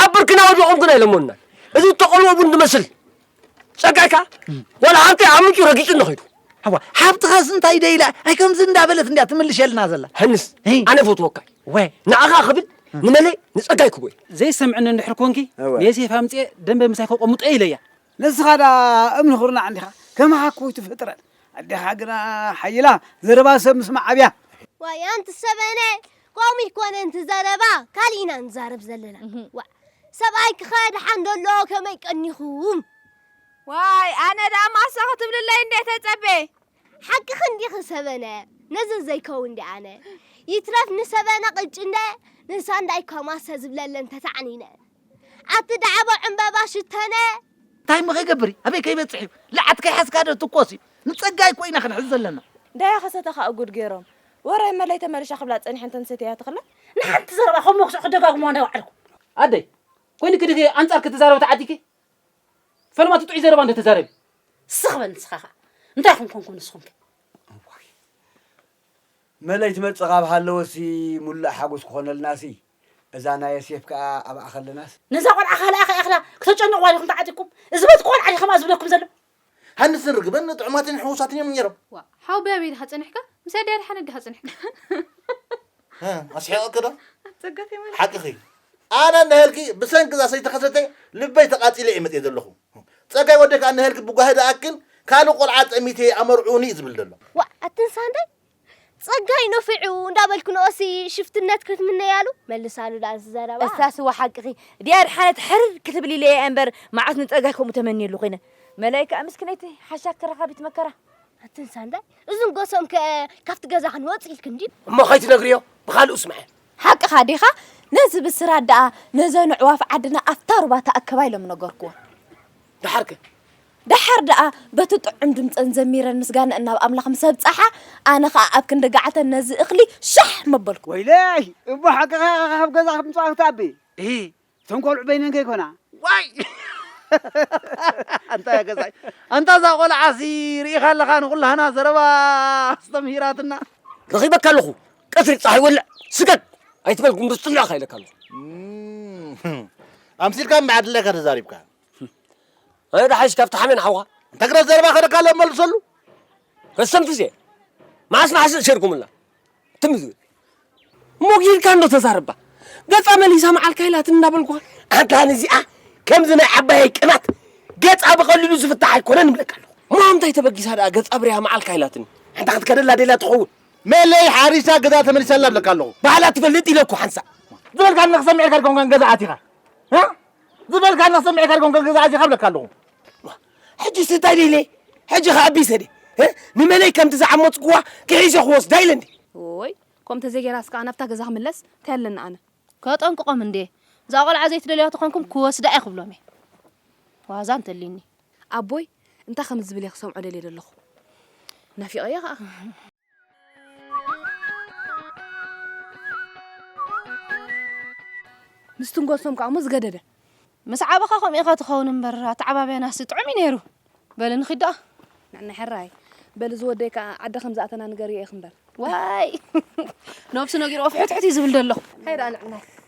ኣብ ብርክና ወዲቖም ግን ኣይለመኑናን እዚ ዝተቐልዎ ቡን ዝመስል ጸጋካ ወላ ሃብተይ ዓሚጩ ረጊጹ እንኸይዱ ኣዋ ሓብትኻስ እንታይ ደ ኢላ ኣይ ከምዚ እንዳበለት እንድያ ትምልሸልና ዘላ ሀንስ እይ። ኣነ ፈትወካ ወ ንኣኻ ክብል ንመለይ ንጸጋይ ክቦ እዩ ዘይሰምዕኒ እንድሕር ኮንኪ እወ። ንየሴፍ ኣምፅኤ ደንበ ምሳይ ከቆምጦ ኢለያ ንስኻ ዳ እምኒ ኹርናዕ እንዲኻ ከማኻ ኮይቱ ፍጥረት ኣዴኻ ግና ሓይላ ዘረባ ሰብ ምስማዕ ኣብያ ዋይ ኣንቲ ሰበነ ከምኡ ኣይኮነ እቲ ዘረባ ካሊእ ኢና ንዛረብ ዘለና ዋእ ሰብኣይኪ ከ ደሓን ዶ ኣሎ ከመይ ቀኒኹም ዋይ ኣነ ደኣ ማሰ ክትብልለይ እንዴ ተጸቤ ሓቅኺ እንዲኺ ሰበነ ነዚ ዘይከውን እንዲ ኣነ ይትረፍ ንሰበነ ቅጭንደ ንሳ እንዳይ ከማሰ ዝብለለን ተታዕኒነ ኣቲ ዳዕቦ ዕምበባ ሽተነ እንታይ እሞ ከይገብር ኣበይ ከይበፅሕ እዩ ልዓት ከይሓዝካ ዶ ትኮስ እዩ ንፀጋይ እኮ ኢና ክንሕዝ ዘለና ዳያ ከሰተኻ እጉድ ገይሮም ወረ እመለይ ተመልሻ ክብላ ጸኒሐን ተንሰትያ ተኽለ ንሓንቲ ዘረባ ከም መኩስዕ ክደጋግሙዋ ናይ ባዕልኩም ኣደይ ኮይንኪ ድኪ ኣንጻርኪ ትዛረቢ ተዓዲኪ ፈለማቲ ጥዑይ ዘረባ እንዶ ተዛረቢ ስኽ በል ንስኻ ኸኣ እንታይ ኹም ኮንኩም ንስኹም ከ መለይ ትመጽእ ካብ ሃለወሲ ሙሉእ ሓጎስ ክኾነልናሲ እዛ ናይ የሴፍ ከኣ ኣብኣ ከለናስ ነዛ ቆልዓ ካልኣ ከይኣኽላ ክተጨንቕዋ ዲኹም ተዓጢቅኩም እዚ በቲ ቆልዓ ዲኸምኣ ዝብለኩም ዘሎ ሃንስን ርግበን ጥዑማትን ሕውሳትን እዮም ነይሮም። ዋእ ሓው ብያበይ ድኻ ጸኒሕካ ምስ ኣደይ ኣድሓነት ድኻ ጸኒሕካ። ኣስሒቐኪ ዶ? ኣጸጋኺ መልሲ። ሓቅኺ እዩ ኣነ ንሀልኪ ብሰንኪ እዛ ሰይቲ ከሰተ ልበይ ተቓጺለ እየ መጺኤ ዘለኹ። ጸጋይ ወደይ ከኣ ንሀልኪ ብጓሂ ዝኣክል ካልእ ቆልዓ ጠሚተ እየ ኣመርዕዉኒ እዩ ዝብል ዘሎ። ዋእ ኣትን ሳንዳይ ጸጋይ ነፊዑ እንዳ በልኪ ንኦሲ ሽፍትነት ክትምነያሉ መልሳሉ ድኣ እዚ ዘረባ። እሳ ስዋ ሓቅኺ ዲኣር ሓነት ሕርር ክትብሊ ኢለ ኢየ እንበር መዓስ ንጸጋይ ከምኡ ተመንየሉ ኮይነ። መላይ ከኣ ምስክነይቲ ሓሻኪ ረካቢት መከራ። ኣትን ሳንዳይ እዝን ጎሶም ከ ካብቲ ገዛ ክንወጽ ኢልክን ድዩ። እሞ ከይትነግርዮ ብካልኡ ስምዐ። ሓቅኻ ዲኻ ነዚ ብስራት ደኣ ነዘን ኣዕዋፍ ዓድና ኣብታ ሩባ ተኣከባ ኢሎም ነገርክወን። ደሓር ከ ደሓር ደኣ በቲ ጥዑም ድምጸን ዘሚረን ምስጋነኣን ናብ ኣምላኽ ምስ ኣብጸሓ፣ ኣነ ኸኣ ኣብ ክንዲ ገዓተን ነዚ እኽሊ ሻሕ መበልኩ። ወይለይ እቦ ሓቅኻ ኢኻ ካብ ገዛ ክትምጻ ክትኣቢ። እሂ እተን ቆልዑ በይነን ከይኮና። ዋይ ኣንታ ገዛይ ኣንታ እዛ ቆልዓሲ ርኢኻ ኣለኻ ንኹላህና ዘረባ ኣስተምሂራትና። ረኺበካ ኣለኹ ቀትሪ ጸሓይ ወልዕ ስገድ ኣይትበል ጉምብዝ ጽልእኻ ኢለካ ኣለኹ። ኣምሲልካ እምበኣር ድላይካ ተዛሪብካ። ኣነ ዳሓይሽ ካብቲ ሓሜን ሓውካ እንታይ ግዳ ዘረባ ከደካ ኣሎ መልሰሉ ረሰንቲ እዜ መዓስ መዓስ እሸርኩምላ ትም ዝብል እሞ ጊርካ እንዶ ተዛረባ ገጻ መሊሳ መዓልካ ኢላት እንዳበልኳ ኣንታ ንዚኣ ከምዚ ናይ ዓባየይ ቅናት ገጻ ብቐሊሉ ዝፍታሕ ኣይኮነን እብለካ ኣለኹ እሞ እንታይ ተበጊሳ ደኣ ገጻ ብርያ መዓልካ ኢላትኒ ኣንታ ክትከደላ ደላ ትኸውን መለይ ሓሪሳ ገዛ ተመሊሳላ እብለካ ኣለኹ ባዕላ ትፈልጥ ኢለኩ ሓንሳእ ዝበልካ ንክሰምዕ ኢልካ ድኮንካ ገዛ ኣቲኻ ዝበልካ እናሰምዔ ካድጎም ከገዛኣ ዚኻ ብለካ ኣለኹ። ሕጂስ እንታይ ደይ ኢለ ሕጂ ከ ኣቢሰ ደ ንመለይ ከምቲ ዝዓመጽኩዋ ክሒሸ ክወስዳ ኢለ እንዴ። እዎይ ከምኡ ተዘይጌራስ ከኣ ናብታ ገዛ ክምለስ እንታይ ኣለኒ ኣነ። ከጠንቅቆም እንዴ እዛ ቆልዓ ዘይትደልያ ተኾንኩም ክወስዳ'የ ክብሎም'የ ዋዛ እንተልዩኒ። ኣቦይ እንታይ ከም ዝብል እየ ክሰምዖ ደልየ ደለኹ ናፊቐያ ከኣ። ምስ ትንጎሶም ከኣ እሞ ዝገደደ ምስ ዓበኻ ከምኡ ኢኻ ትኸውን እምበር ኣተዓባብያናሲ ጥዑም እዩ ነይሩ በሊ ንኺድ ደኣ ንዕና ሕራይ በሊ ዝወደይ ከኣ ዓዲ ከም ዝኣተና ንገርዮ ኢኺ እምበር ዋይ ነብሱ ነጊርዎ ፍሕትሕት እዩ ዝብል ዘሎ ሃይ ደኣ ንዕናይ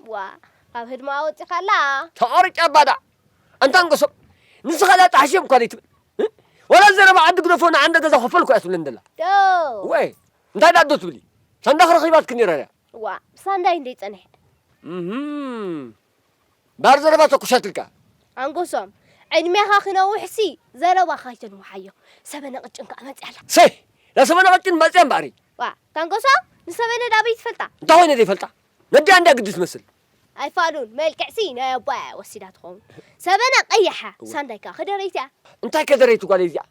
ዋእ ካብ ህድሞኣ ኣወጺኻላ። ተቐርጫ ባዳዕ ኣንታ ኣንጎሶም ንስኻ እዛ ጣሕሽም እኳ ዘይትብል እ? ዋላ ዘረባ ዓዲ ግደፎ ንዓንደ ገዛ ክፈልኩ እያ ትብለኒ ዘላ ደው እወ እንታይ ደኣ ዶ ትብሊ ሳንዳኽ ረኺባትኪ ነይራ ድያ ዋእ ብሳንዳይ እንድይ ጸኒሐ። እህም ባር ዘረባ ተኩሻትልካ ኣንጎሶም ዕድሜኻ ክነውሕሲ ዘረባኻ ኣይተንውሓዮ። ሰበነ ቅጭን ከኣ መጺኣ ኣላ። ሰይ እዛ ሰበነ ቅጭን መጺኣ እምበኣሪ ዋእ እታ ኣንጎሶም ንሰበነድ ኣበይ ትፈልጣ። እንታይ ኮይነ ዘይፈልጣ ነዲ ኣንዳ ግዲ ትመስል። ኣይፋሉን መልክዕሲ ናይ ኣቦኣያ ወሲዳ ትኸውን ሰበና ቀያሓ እወ። ሳንዳይ ከኣ ከደረይቲ'ያ። እንታይ ከደረይቲ ጓለይ እዚኣ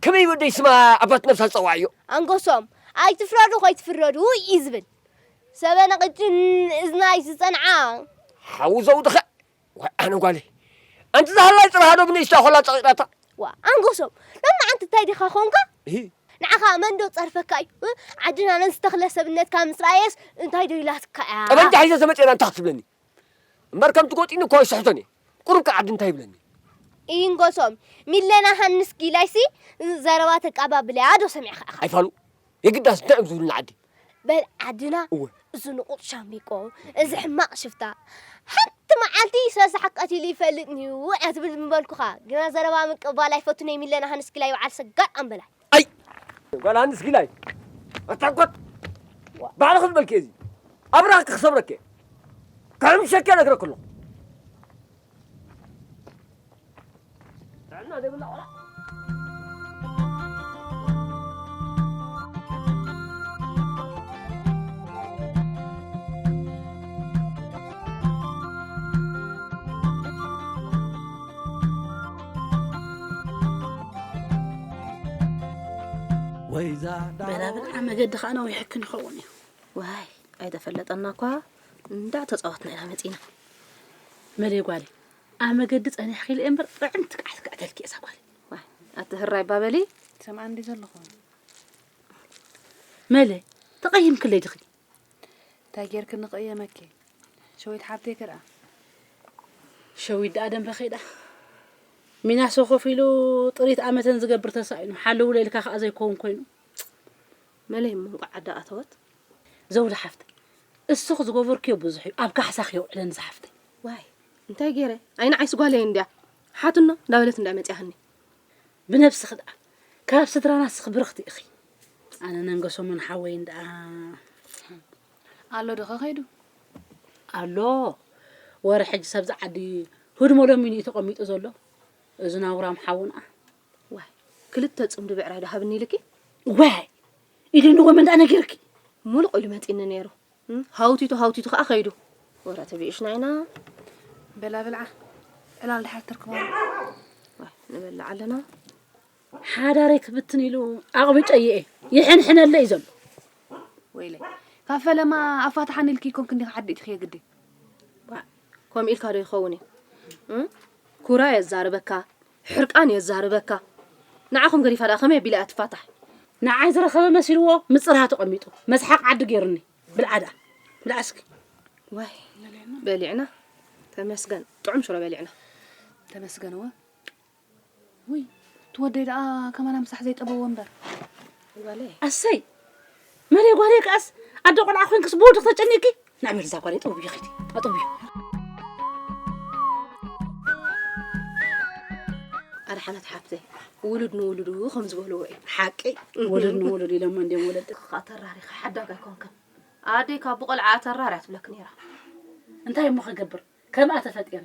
ከመይ ወደይ ስማ ኣባት ነብሳ ዝጸውዓዮ። ኣንጎሶም ኣይትፍረዱ ከይትፍረዱ ኢዩ ዝብል ሰበና ቅጭን እዝናይ ዝጸንዓ። ሓው ዘውድኸ ዋይ ኣነ ጓለይ ኣንቲ ዛሃላይ ጽባሕ ዶ ብንእሽታ ኮላ ጸቂጣታ ዋእ ኣንጎሶም ሎማዓንቲ እንታይ ዲኻ ኮንካ እሂ ንዓኻ መን ዶ ጸርፈካ እዩ እ? ዓድና ነዚ ተኽለ ሰብነትካ ምስ ረኣየስ እንታይ ዶ ኢላትካ እያ ጠበንጃ ሒዘ ተመጺኤና እንታይ ክትብለኒ እምበር ከምቲ ጎጢኒ እኮ ኣይስሕቶን እየ ቁሩብ ከ ዓዲ እንታይ ይብለኒ ኢንጎሶም ሚለና ሃንስ ጊላይሲ ዘረባ ተቃባብለያ ዶ ሰሚዕኻ ኢኻ ኣይፋሉ የግዳስ ደዕም ዝብሉና ዓዲ በል ዓድና እወ እዚ ንቑጥ ሻሚቆ እዚ ሕማቕ ሽፍታ ሓንቲ መዓልቲ ሰሳሕ ቀቲሉ ይፈልጥንዩ እያ ትብል ምበልኩኻ ግና ዘረባ ምቅባል ኣይፈቱን እየ ሚለና ሃንስኪላይ በዓል ሰጋጥ ኣምበላይ ኣይ ጓል ሃንስኪላይ ኣታኮት ባዕልኺ ዝበልክዮ እዚ ኣብራኽኪ ክሰብረኪ ክሕምሸኪ ነግረኪ ኣለኹ ጥዕና ዘይብላ ቆልዓ ወይዛ በላብልዓ መገዲ ከዓ ነዊሕክን ይኸውን እዩ ዋይ ኣይተፈለጠና እኳ እንዳዕ ተፃወትና ኢና መፂና መለይ ጓለይ ኣብ መገዲ ጸኒሕኪ ኢለ እምበር ጥዕምቲ ቃዕቲ ክዕተልኪ እየ እዛ ጓለይ ኣቲ ህራይ ባበሊ ሰምዓ እንዲ ዘለኹ መለይ ተቐይምክለይ ድኺ እንታይ ጌርክ ንቕየመኪ ሸዊት ሓብተይ ክርኣ ሸዊት ደኣ ደንበ ከይዳ ሚናሶ ኮፍ ኢሉ ጥሪት ኣመተን ዝገብር ተሳኢኑ ሓለውለ ኢልካ ከዓ ዘይከውን ኮይኑ መለይ እሞ እንቋዕ ዓዳ ኣተወት። ዘውዲ ሓፍተይ እስኺ ዝገበርክዮ ብዙሕ እዩ ኣብ ካሕሳኺ የውዕለኒ ዝሓፍተይ። ዋይ እንታይ ጌረ ኣይ ንዓይስ ጓለይ እንድያ ሓትኖ እንዳበለት እንድያ መጺኣትኒ። ብነብስኺ ድኣ ካብ ስድራና እስኺ ብርኽቲ ኢኺ። ኣነ ነንገ ሰሙን ሓወይ እንድኣ ኣሎ ዶ ከከይዱ ኣሎ ወረ ሕጂ ሰብዚ ዓዲ ህድሞ ለሚኑ እዩ ተቐሚጡ ዘሎ እዚ ናውራም ሓውና። ዋይ ክልተ ጽምዲ ብዕራይ ዶ ሃብኒ ኢልኪ? ዋይ ኢሉ ንጎመን ዳኣ ነጊርኪ። ሙሉቕ ኢሉ መጺኒ ነይሩ ሃውቲቱ ሃውቲቱ ከኣ ከይዱ። ወረ ተቢእሽና ኢና። በላ ብልዓ ዕላል ድሓር ተርክቦ ንበልዕ ኣለና ሓዳረይ ክብትን ኢሉ ኣቕቢጨየ እየ ይሕንሕነለ እዩ ዘሎ ወይለይ ካብ ፈለማ ኣፋትሓን ኢልኪ ኮንክ እንዲኻ ዓዲ እቲ ክየግዲ ከምኡ ኢልካ ዶ ይኸውን እዩ ኩራ የዛርበካ ሕርቃን የዛርበካ ንዓኹም ገዲፋ ድኣ ከመይ ኣቢላ እያ ትፋታሕ። ንዓይ ዝረኸበ መሲልዎ ምጽርሃ ተቀሚጡ መስሓቅ ዓዲ ጌሩኒ ብልዓ ድኣ ብልዓ እስኪ። ዋይ በሊዕና ተመስገን ጥዑም ሽሮ በሊዕና ተመስገን እወ። ውይ እቲ ወደይ ደኣ ከማና ምሳሕ ዘይጠበዎ እምበር። ኣሰይ መሬ ጓሌ ከኣስ ኣደ ቆልዓ ኮይንክስ ብወድኽ ተጨኒቂ ናይ በርዛ ጓሌ ጠውዩ ኺቲ ኣጠውዩ ኣደ ሓነት ሓፍተይ ውሉድ ንውሉዱ ከም ዝበልዎ እዩ ሓቂ ውሉድ ንውሉድ ኢሎሞ እንዲም ወለዲ ክኻ ተራሪኸ ሓዳጋ ኮንክን ኣደይ ካብ ብቆልዓ ተራርያ ትብለክ ነይራ እንታይ እሞ ክገብር ከምኣ ተፈጢረ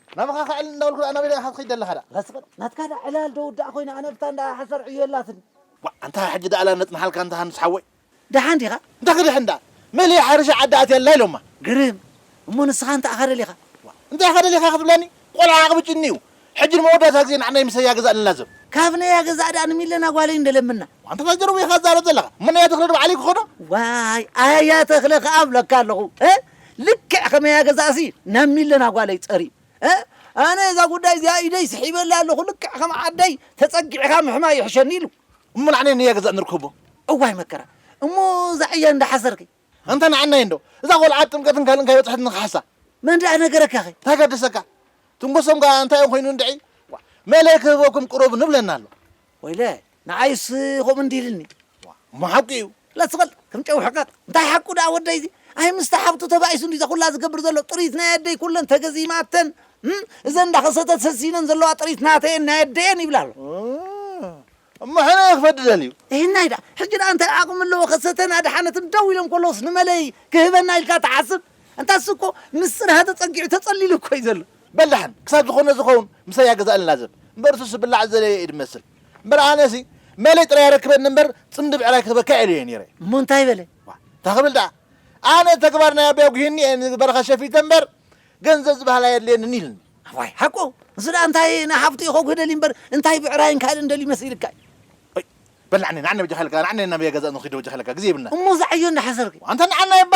ናባኻ ክዕል እንዳበልኩ ድኣ ናበይ ድኣ ኢኻ ትኸይድ ዘለኻ ድኣ? መስፍን ናትካ ድኣ ዕላል ዶ ውዳእ ኮይኑ ኣነብታ እንዳ ሓሰር ዕዮ የላትን። ዋእ ኣንታ ሕጂ ድኣ ዕላል ነጽንሓልካ እንተ ሃንስ ሓወይ። ደሓን ዲኻ? እንታይ ክድሕን ድኣ መሊኣ ሓሪሻ ዓዲ ኣትያ ኣላ ኢሎማ። ግርም እሞ ንስኻ እንታይ ኢኻ ደሊኻ? ዋእ እንታይ ኢኻ ደሊኻ ክትብለኒ ቆልዓ ዓቕሚ ጭኒ እዩ ሕጂ ንመወዳእታ ግዜ ንዓና ይምሰያ ገዛእ ንላዘብ። ካብ ነያ ገዛእ ድኣ ንሚለና ጓለይ እንደለምና። ዋእ ኣንታ ታይ ጀርቦ ኢኻ ትዛረብ ዘለኻ እሞ ነያ ተኽለ ዶ ባዕለይ ክኾኖ? ዋይ ኣያ ተኽለ ክኣ እብለካ ኣለኹ። ልክዕ ከመይ ኣገዛእሲ ናብ ሚለና ጓለይ ጸርዩ እ ኣነ እዛ ጉዳይ እዚኣ ኢደይ ስሒበላ ኣለኹ ልክዕ ከም ዓደይ ተጸጊዕኻ ምሕማይ ይሕሸኒ ኢሉ እሞ ንዓናይ ነያ ገዛእ ንርከቦ እዋይ መከራ እሞ እዛ ዕያ እንዳ ሓሰርኪ ኣንታ ንዓናይ እንዶ እዛ ቆልዓ ኣብ ጥምቀትን ካልእን ካይበጽሐት ንክሓሳ መን ደኣ ነገረካ ኸ እንታይ ገደሰካ ትንጎሶም ከኣ እንታይ ኮይኑ እንድዒ መለይ ክህበኩም ቅረቡ ንብለና ኣሎ ወይለ ንዓይስ ከምኡ እንዲ ኢልኒ ዋእ እሞ ሓቁ እዩ ለቲ በል ከም ጨው ሕቀቅ እንታይ ሓቁ ደኣ ወደይ እዚ ኣይ ምስቲ ሓብቱ ተባኢሱ እንዲ ዘኹላ ዝገብር ዘሎ ጥሪት ናይ ኣደይ ኩለን ተገዚማተን እም፣ እዘን እንዳኸሰተት ሰሲነን ዘለዋ ጥሪት ናተይ እየን ናይ ኣደይ እየን ይብላ ኣሎ እም፣ እሞ ሕነ እየ ክፈዲ ደልዩ እህናይ ደኣ ሕጂ ደኣ እንታይ ዓቅሚ ኣለዎ ከሰተን ኣድሓነትን ደው ኢሎም ከለውስ ንመለይ ክህበና ኢልካ ትሓስብ እንታስ እኮ ምስጢር ሃተጸጊዑ ተጸሊሉ እኮ እዩ ዘሎ በላሕን ክሳብ ዝኾነ ዝኸውን ምሳይ ያገዛእ ንላዘብ እምበር እሱስ ዝብላዕ ዝደለየ እዩ ዝመስል እምበር ኣነሲ መለይ ጥራይ ኣረክበኒ እምበር ጽምዲ ብዕራይ ክትበካ ኢለዮ ነይረ እሞ እንታይ በለ ዋእ እንታይ ክብል ደኣ ኣነ ተግባር ናይ ኣቦይ ኣጒሂኒ እየ ንበረኻ ሸፊተ እምበር ገንዘብ ዝበሃል ኣየድልየንን ኢልኒ ዋይ ሓቁ ንሱ ደኣ እንታይ ንሓፍቱ እዩ ከጉህ ደልዩ እምበር እንታይ ብዕራይን ካልእን ደልዩ መሲልካ እዩ በል ንዓኒ ንዓኒ በጃኻ ኢለካ ንዓኒ ናብ ያገዛእ ንኺዶ በጃኻ ኢለካ ግዜ ይብልና እሞ እዛ ዕዮ እንዳሓሰርኪ ኣንታ ንዓና እባ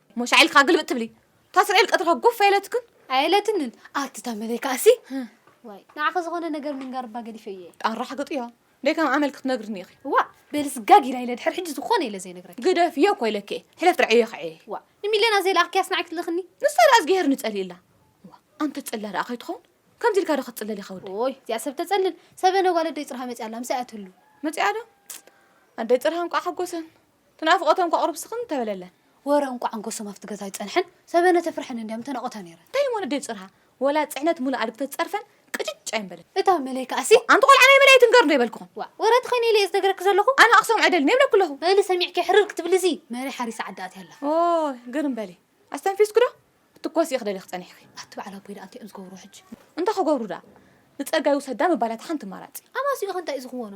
ሞሻ ኢልካ ግልብጥ ትብሊ እታ እስራኤል ቀጥርካ ጎፍ ኣይለትክን ኣየለትንን ኣቲ ታመለይ ከኣሲ ዋይ ንዓኺ ዝኾነ ነገር ምንጋር እባ ገዲፈ እየ ኣራሕግጥ እያ ደይ ከም ኣመል ክትነግርኒ ኢኺ ዋእ በልስ ጋግ ኢላ ኢለ ድሕር ሕጂ ዝኾነ ኢለ ዘይነግረኪ ግደፍ እየ እኮ ኢለኪ እየ ሕለፍ ጥራይ እየ ከዐየ ዋእ ንሚልዮና ዘይለኣኽኪያስ ንዓይ ክትልእኽኒ ንሳ ደኣ እዝግሄር ንጸልእላ ዋ ኣንተ ጽላ ደኣ ከይትኸውን ከምዚ ኢልካ ዶ ክትጽለል ኢኻ ወደይ ኦይ እዚኣ ሰብ ተጸልል ሰበነ ጓል ኣደይ ጽርሃ መጺኣ ኣላ ምስኣ እያ ትህሉ መጺኣ ዶ ኣደይ ጽርሃ እንቋዕ ሓጎሰን እቲ ናፍቆተን ከቕርብ ስኽን ተበለለን። ወረ እንቋዕ ኣንጎሶም ኣብቲ ገዛ ኣይጸንሐን፣ ሰበነ ተፍርሐን እንድያ ምተናቖታ ነይረን። እንታይ እሞ ነደይ ጽርሃ ወላ ጽዕነት ሙሉእ ኣድግተ ዝጸርፈን ቅጭጭ ኣይምበልን። እታ መለይ ከኣሲ። ኣንቲ ቆልዓ ናይ መለይ ኣይትንገርዶ ይበልክኹም። ዋእ ወረ እቲ ኸይነ ኢለ እየ ዝነግረኪ ዘለኹ። ኣነ ኣኽሰም ኣይደልን እየ እብለኪ ኣለኹ። በሊ ሰሚዕኪ ሕርር ክትብሊ እዚ መለይ ሓሪሳ ዓዳ ኣትያ ኣላ። ኦይ ግርም በሊ ኣስተንፊስኪዶ ክትትኮሲ ኢኺ ደሊኺ ጸኒሕኪ። ኣቲ በዓል ኣቦይ ደኣ እንታይ እዮም ዝገብርዎ ሕጂ። እንታይ ክገብሩ ደኣ ንጸጋይ ውሰዳ ምባል እያ እቲ ሓንቲ ኣማራጺ። ኣማስይኡ ከ እንታይ እዩ ዝኽወኖ።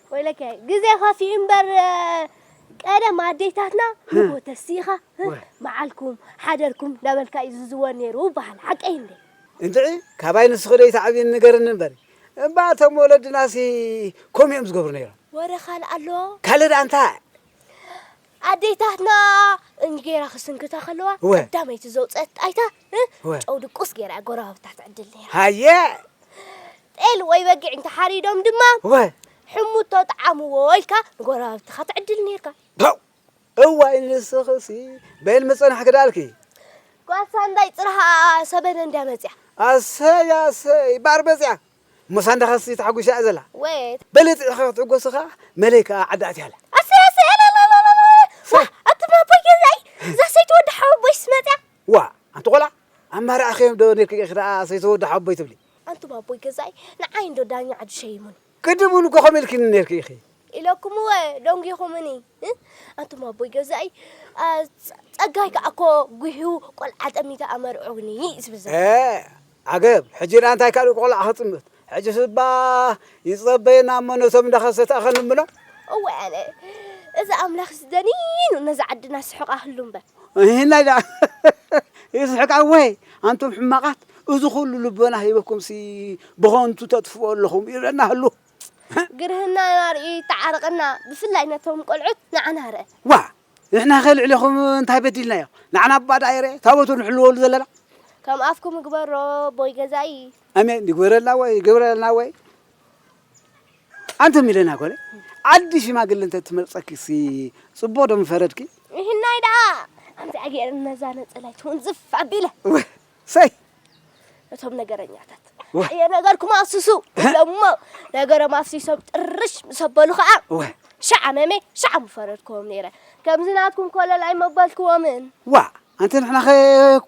ወይለከ ግዜ ከፊኡ እምበር ቀደም ኣዴታትና ንግሆ ተሲእኻ መዓልኩም ሓደርኩም እንዳበልካ እዩ ዝዝወር ነይሩ ይበሃል ሓቀይ እንዴ? እንድዒ ካባይ ንስኺ ዶ ኣይትዓብይን ንገርኒ እምበር እባ እቶም ወለድናሲ ከምኡ እዮም ዝገብሩ ነይሮም። ወረ ካልእ ኣሎ? ካልእ ደኣ እንታይ? ኣዴታትና እንጌራ ክስንክታ ከለዋ እወ። ቀዳመይቲ ዘውፀአት ጣይታ እ፣ እወ። ጨው ድቁስ ገይራ እያ ጎረባብታ ትዕድል ነይራ። ሃየ ጤል ወይ በጊዕ እንተሓሪዶም ድማ እወ ሕሙቶ ጠዓምዎ ኢልካ ንጎረባብትኻ ትዕድል ነይርካ። ፐው እዋይ ንስኽሲ በይን ምፅናሕ ክዳልኪ ጓል ሳንዳይ ፅርሃ ሰበነ እንድያ መፂኣ። ኣሰይ ኣሰይ ባር መፅያ እሞሳ እንዳኻስ ተሓጒሳ እያ ዘላ ወየት በለ ጥዒኻ ክትዕጎሲ ኸዓ መለይ ከኣ ዓዳ ኣትያ ኣላ ኣሰይ ኣሰይ ኣለለለለለ ዋ ኣቱም ኣቦይ ገዛኢ እዛ ሰይቲ ወዲ ሓወቦይስ መፅያ ዋ ኣንቲ ቆልዓ ኣማራዕኺዮም ዶ ነይርኪ ኢኺ ደኣ ሰይቲ ወዲ ሓወቦይ ትብሊ ኣንቱም ኣቦይ ገዛኢ ንዓይ እንዶ ዳኛ ዓዱ ሸይሙኒ ቅድም እውን እኮ ከምኡ ኢልክኒ ነይርኪ ኢኺ ኢለኩምወ ደንጒኹምኒ ኣንቱም ኣቦይ ገዛኢ ጸጋይ ከዓ እኮ ጉሂዩ ቆልዓ ጠሚተ ኣመርዑኒ ዝብል ዘሎ ዓገብ ሕጂ ዳ እንታይ ካልእ ቆልዓ ክጥምት ሕጂ ስባ ይጸበየና እሞ ነቶም እንዳኸሰተ ኣኸንብሎ እወ ኣነ እዚ ኣምላኽ ዝደኒኑ ነዛ ዓድና ስሕቕ ኣህሉ እምበር ይህናይ ዳ ይስሕቅ ኣወይ ኣንቱም ሕማቓት እዚ ኩሉ ልቦና ሂበኩምሲ ብኸንቱ ተጥፍኦ ኣለኹም ይብለና ህሉ ግርህና ናርእ ይተዓረቀና ብፍላይ ነቶም ቆልዑት ንዓና ርእ። ዋእ ንሕናኸ ልዕሌኹም እንታይ በዲልናዮ ንዓና እባ ደኣ ይርኤ ታቦቱ ንሕልወሉ ዘለና። ከም ኣፍኩም ይግበሮ ኣቦይ ገዛኢ። ኣሜን ይግበረልና ወይ ይግበረልና ወይ ኣንተ ሚለና ኮነ ዓዲ ሽማግለ እንተ ትመርጸኪ ሲ ጽቡቕ ዶ ምፈረድኪ? ይህናይ ደኣ ኣምዚኣ ገይረ ነዛ ነጸላይ ትውንዝፍ ኣቢለ ሰይ እቶም ነገረኛታት የነገርኩም ኣፍስሱ ኢሎሞ ነገሮም ኣፍሲሶም ጥርሽ ምስ ኣበሉ ከዓ ሻዕ ኣመመ ሻዕ ምፈረድክዎም ነይረ ከምዚ ናትኩም ኮለል ኣይመበልክዎምን ዋ ኣንቲ ንሕና ኸ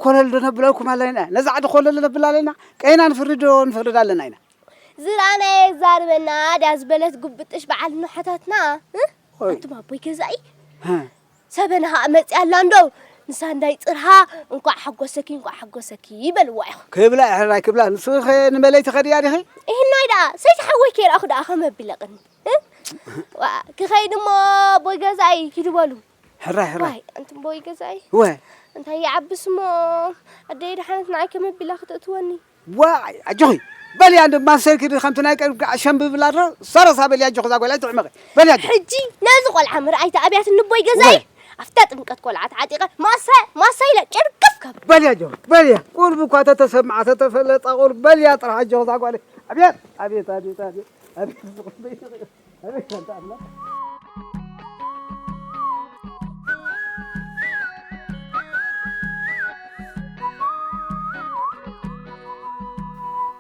ኮለል ዶ ነብለልኩም ኣለና ነዛ ዓዲ ኮለል ነብል ኣለና ቀይና ንፍርድ ዶ ንፈርድ ኣለና ኢና ዝረኣናየ ዛርበና ድያ ዝበለት ጉብጥሽ በዓል ንሓታትና ኣቱም ኣቦይ ገዛኢ ሰበናሃ መጺኣ ኣላ እንዶ ንሳ እንዳይ ጽርሃ እንቋዕ ሓጎሰኪ እንቋዕ ሓጎሰኪ በልዋ ኢኹም። ክብላ ኤሕራይ ክብላ ንስኺኸ ንመለይ ትኸድያ ዲኺ? እሂናይ ደኣ ሰይሰ ሓወይ ከይረኣኹ ደኣ ከመይ ኣቢለ ቅኒ ዋእ ክኸይድ እሞ ኣቦይ ገዛኢ ኪዱ በሉ። ሕራይ ሕራይ ዋይ ኣንቲ ኣቦይ ገዛኢ እወ እንታይ ይዓብስ እሞ ኣደይ ደሓነት ንዓይ ከመይ ኣቢላ ክትእትወኒ ዋይ ኣጆኺ በልያ እንዶ ማሰይ ክዲ ከምቲ ናይ ቀደምኪ ኣሸምቢ ብላ ድሮ ሰረሳ በልያ ኣጆኺ እዛ ጓል ኣይትሕመቂ በልያ ኣጆኺ ሕጂ ነዚ ቆልዓ ምርኣይ ተኣብያት እንቦይ ገዛይ ኣብታ ጥምቀት ቆልዓ ተዓጢቐ ማሰ ማሰ ኢለ ጭርግፍ ከብል በልያ ኣጆኺ በልያ ቁርብ እኳ ተተሰምዓ ተተፈለጣ ቁርብ በልያ ጥራሕ ኣጆኺ እዛ ጓለይ ኣብየት ኣብየት ኣብየት ኣብየት ኣቤት ኣንታ ኣምላኽ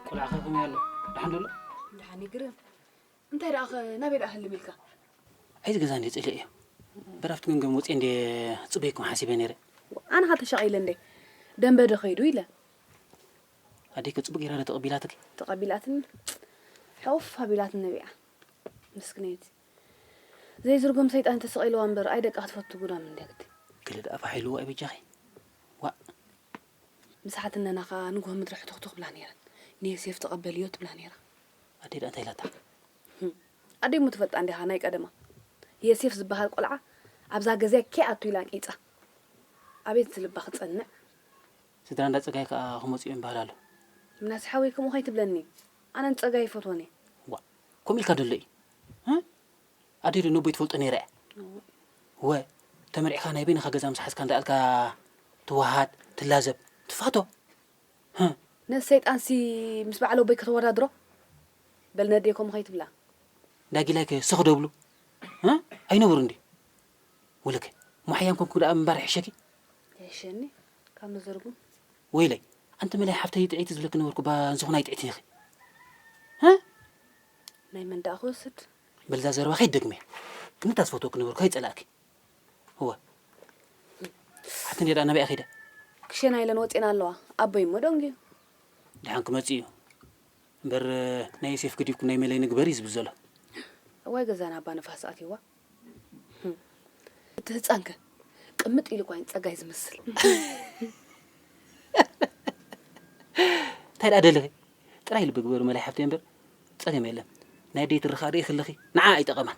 ቆልዓ ከ ከመይ ኣሎ ድሓን ደሎ ድሓን ይግርም እንታይ ደኣ ከ ናበይ ደኣ ህልም ኢልካ ኣይዚ ገዛ እንደ ፅልእ እዮ በራፍቲ ገምገም ወፅየ እንደ ፅበይኩም ሓሲበ ነይረ ኣነ ኸ ተሻቒለ እንደ ደንበ ዶ ከይዱ ኢለ ኣዴኪ ጽቡቅ ጌራ ዶ ተቀቢላትኪ? ተቀቢላትኒ ሑፍ ኣቢላትኒ ነቢዓ ምስክነይቲ ዘይዝርጎም ሰይጣን ተሰቂልዋ እምበር ኣይ ደቃ ክትፈቱ ጉዳም እንድያ ግዲ። ገለ ደኣ ፋሕ ኢልዎ ኣይ በጃኺ ዋእ። ምስ ሓትነና ከኣ ንግሆ ምድሪ ሕቱኽቱኽ ይብላ ኔረን ንየሴፍ ተቀበልዮ ትብላ ኔራ። ኣደይ ደኣ እንታይ ኢላታ? ኣደይ እሞ ትፈልጣ እንዲኻ ናይ ቀደማ የሴፍ ዝበሃል ቆልዓ ኣብዛ ገዝያ ከይኣቱ ኢላ ኣንቂጻ። ኣቤት እዚ ልባ ክጸንዕ ስድራ እንዳ ጸጋይ ከኣ ክመጹ እዮም ይበሃል ኣሎ። ምናሴ ሓወይ ከምኡ ከይትብለኒ ኣነ ንጸጋይ ይፈትዎን እየ። ዋእ ከምኡ ኢልካ ዶ ኣሎ እዩ እ ኣደይ ዶ ነቦይ ትፈልጦ ነይራ እያ እወ ተመርዕካ ናይ በይንካ ገዛ ምስ ሓዝካ እንዳ ኣልካ ትወሃሃድ ትላዘብ ትፋቶ ህ። ነዚ ሰይጣን ሲ ምስ በዓል ኣቦይ ከተወዳድሮ በል ነዴ ከምኡ ከይትብላ። እንዳ ጊላይ ከ ስኽ ዶ ይብሉ እ ኣይነብሩን ድዩ ወለከ እሞ ሓያም ኮንኩ ደኣ ምንባር ይሕሸኪ። ይሕሸኒ ካብ መዘርጉም። ወይለይ ኣንቲ መላይ ሓፍተይ ጥዕይቲ ዝብለኪ ነበርኩ እባ እንዝኹን ኣይጥዕትን ኢኺ ሀ ናይ መን ደኣ ክወስድ። በል እዛ ዘረባ ከይትደግምያ ክንታ ዝፈትወኪ ነበርኩ ከይጸላእኪ እወ ሓፍቲ እንድያ ደኣ ናበይ እያ ከይዳ ክሸና ኢለን ወጺኤን ኣለዋ ኣቦይ እሞ ደንጉዩ። ድሓን ክመጽእ እዩ እምበር ናይ ዮሴፍ ገዲፍኩም ናይ መለይ ንግበር እዩ ዝብል ዘሎ። እዋይ ገዛና ኣባ ንፋስ ኣትዩዋ። እቲ ህፃን ከ ቅምጥ ኢሉ ኳይን ፀጋይ ዝመስል እንታይ ደኣ ደለኺ ጥራይ ልቢ ግበሩ መላይ ሓፍተይ እምበር ፀገም የለን ናይ ደይ ትርኻ ርኢ ክልኺ ንዓ ኣይጠቐማን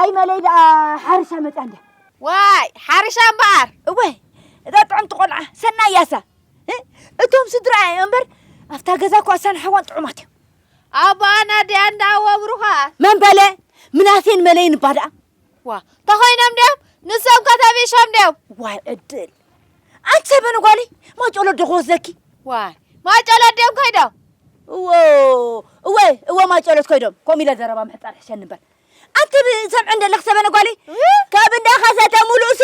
ኣይ መለይ ደኣ ሓርሻ መጽያ እንድያ ዋይ ሓርሻ እምበኣር እወ እዛ ጥዕምቲ ቆልዓ ሰናይ ያሳ እቶም ስድራኣ እዮም እምበር ኣብታ ገዛ እኳ እሳን ሓዋን ጥዑማት እዮም ኣቦኣ ናድያ እንዳ ወብሩኻ መን በለ ምናሴን መለይን እባ ደኣ ዋ ተኾይኖም ድዮም ንሶም ከተቢሾም ድዮም ዋይ ዕድል ኣንቲ ሰበን ጓለይ ማጨሎ ዶ ክወስደኪ ዋይ ማጨሎ ድዮም ኮይዶም እዎ እወ እወ ማጨሎት ኮይዶም ከምኡ ኢለ ዘረባ ምሕፃር ሕሸ ንበር ኣንቲ ሰምዐ እንደለክ ሰበነ ጓለይ ካብ እንዳ ከሰተ ሙሉእሲ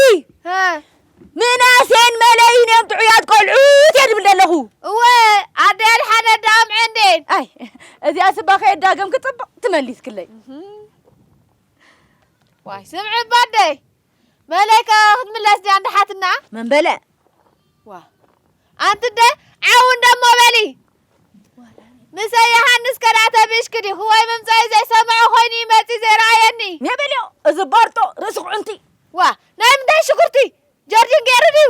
ምናሴን መለይን እዮም ጥዑያት ቆልዑት እየ ድብል ዘለኹ እወ ኣደል ሓደ ዳምዐ እንዴን ኣይ እዚኣ ስባ ከየዳገም ክፅብቕ ትመሊስክለይ ዋይ ስምዒ ባደይ መለይከ ክትምለስ ድያ እንዳ ሓትና? መን በለ? ዋ ኣንቲ እንደ ዓው እንደሞ በሊ ምሰ ዮሃንስ ከዳዕ ተብእሽኪ ዲኹ ወይ ምምፀኢ ዘይሰምዖ ኮይኑ እዩ መፂ ዘይረኣየኒ ሜ በልዮ እዚ ባርጦ ርእሲ ኩዕንቲ ዋ ናይ ምንታይ ሽጉርቲ ጀርዲን ገይሩ ድዩ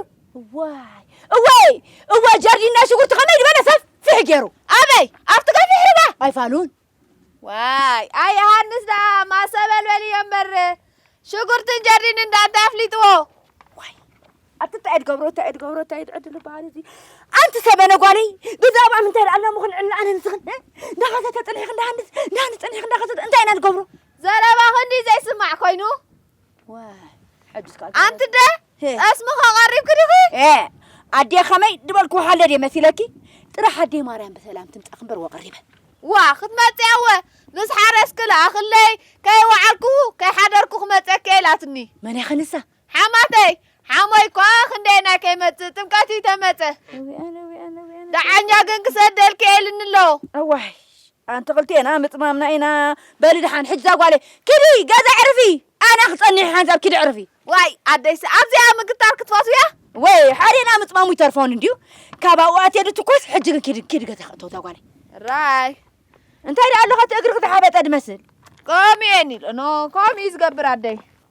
ዋይ እወይ እወ ጀርዲን ናይ ሽጉርቲ ከመይ ዝበለ ሰፊሕ ገይሩ ኣበይ ኣብቲ ገፊሕ ርባ ኣይፋሉን ዋይ ኣይ ዮሃንስ ደኣ ማሰበልበል እዮ እምበር ሽጉርትን ጀርዲን እንዳ እንታይ ኣፍሊጥዎ ኣቲ እንታይ እድገብሮ እንታይ እድገብሮ እንታይ እድዕድሉ ባህሪ እዚ ኣንቲ ሰበነ ጓለይ ብዛዕባ ምንታይ ደኣ ኣለሙ ክንዕላ ኣነ ንስኽን እንዳኸሰተ ጥልሒኽ እንዳሃንስ እንዳሃንስ ጥልሒኽ እንዳኸሰተ እንታይ ኢና ንገብሮ ዘረባ ክንዲ ዘይስማዕ ኮይኑ ኣንቲ ደ ጠስሚ ከቐሪብኪ ድኺ ኣዴ ከመይ ድበልኩ ሃለ ድየ መሲለኪ ጥራሕ ኣዴ ማርያም ብሰላም ትምፃ ክምበር ወቐሪበ ዋ ክትመፅእ ኣወ ምስ ሓረስኪ ለኣኽለይ ከይወዓልኩ ከይሓደርኩ ክመፀኪ ኢላትኒ መን እያ ከንሳ ሓማተይ ሓሞይ እኳ ክንደየናይ ከይመፅእ ጥምቀት እዩ ተመፀ ደዓኛ ግን ክሰደልኪ ኤልኒ ኣለዎ እዋይ ኣንቲ ክልቴና ምጽማምና ኢና በሊ ድሓን ሕጂ እዛ ጓለይ ኪዲ ገዛ ኣዕርፊ ኣነ ክጸኒሕ ሓንሳብ ኪዲ ኣዕርፊ። ዋይ ኣደይሲ ኣብዚኣ ምግታር ክትፈትውያ። ወይ ሓዴና ምጽማሙ ይተርፎን እንድዩ ካብ ኣብኡ ኣትየ ድትኮስ ሕጂ ግን ኪዲ ኪዲ ገዛ ክእተው እዛ ጓለይ። ራይ እንታይ ደኣ ኣሎኻ እቲ እግርኺ ዝሓበጠ ድመስል። ከምኡ እየ ኒል እኖ ከምኡ እዩ ዝገብር ኣደይ።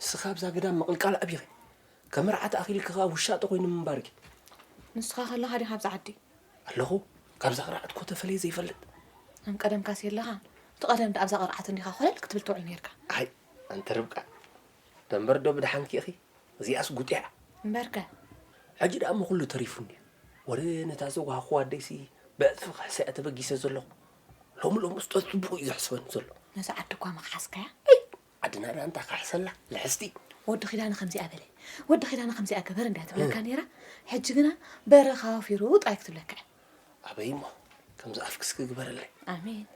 ንስኺ ኣብዛ ግዳም ምቕልቃል ኣቢኺ፣ ከም መርዓ ተኣኺልኪ ከኣ ውሻጠ ኮይኑ ምንባርኪ። ንስኻ ከለኻ ዲኻ ኣብዛ ዓዲ? ኣለኹ፣ ካብዛ ቅርዓት እኮ ተፈልየ ዘይፈልጥ። ከም ቀደምካስ የለኻን፣ እቲ ቀደም ደኣ ኣብዛ ቅርዓት እንዲኻ ኮለል ክትብል ትውዕል ኔርካ። ኣይ ኣንቲ ርብቃ፣ ደንበር ዶ ብደሓንኪ ኢኺ፣ እዚኣስ ጉጢዓ። እምበርከ? ሕጂ ደኣ እሞ ኩሉ ተሪፉኒ'ዩ፣ ወረ ነታ ዘዋሃኹዋ ኣደይሲ ብዕጽፊ ክሕሰያ ተበጊሰ ዘለኹ፣ ሎሚ ሎምስ ጸጽቡቑ'ዩ ዘሕስበኒ ዘሎ። ነዛ ዓዲ እኳ ምኽሓስካያ? ዓድና ድኣ እንታይ ክሕሰላ ልሕስቲ። ወዲ ኪዳነ ከምዚኣ በለ ወዲ ኪዳነ ከምዚኣ ግበር እንድያ ትብለካ ኔራ ሕጂ ግና በረኻ ወፊሩ ጥራይ ክትብለካ እያ። ኣበይ እሞ ከምዚ ኣፍኪ እስኪ ግበርለይ። ኣሜን።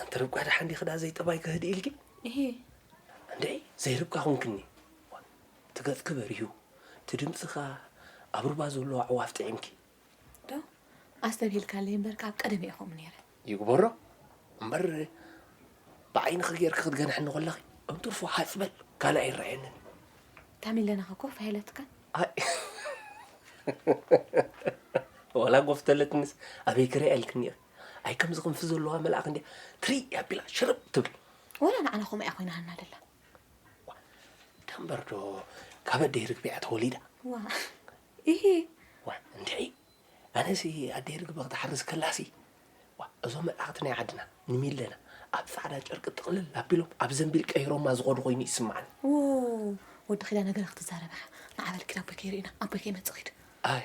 ኣንቲ ርብቃ ደሓን ዲኺ ድኣ ዘይጠባይኪ ህድእ ኢልኪ። እሂ። እንድዒ ዘይርብቃ ኮንክኒ እቲ ገጽኪ በሪሁ እቲ ድምጺ ከኣ ኣብ ሩባ ዘሎ ኣዕዋፍ ጥዒምኪ። ዶ ኣስተብሂልካለይ እምበር ካብ ቀደመ እየ ከምኡ ነይረ። ይግበሮ እምበር ብዓይንኺ ጌርኪ ክትገንሕኒ ኮለኺ እንትርፎ ሃጽ በል ካልእ ኣይረኣየንን። እታ ሚለናኸ ኮፍ ኣይለትካን? ዋላ ጎፍ ተለትንስ ኣበይ ክሪኣ ኢልክኒ ኢኺ ኣይ ከምዚ ክንፊ ዘለዋ መልኣኽ እንድያ ትሪኢ ኣቢላ ሽርብ ትብል ወላ ንዓና ከምኡ እያ ኮይናና ደላ ደምበር ዶ ካብ ኣደይ ርግቢያ ተወሊዳ ዋ እሂ! ዋእ እንድዒ! ኣነሲ ኣደይ ርግበ ክትሓርስ ከላሲ፣ ዋእ እዞም መልኣኽቲ ናይ ዓድና፣ ንሚለና ኣብ ጻዕዳ ጨርቂ ጥቕልል ኣቢሎም ኣብ ዘንቢል ቀይሮማ ዝኸዱ ኮይኑ ይስምዓኒ። ዎው! ወዲ ኪዳነ ገለ ክትዛረብ ኢኻ፣ ንዓ በል ኪድ ኣቦይ ከይርኡና፣ ኣቦይ ከይመጽእ ኪድ። ኣይ!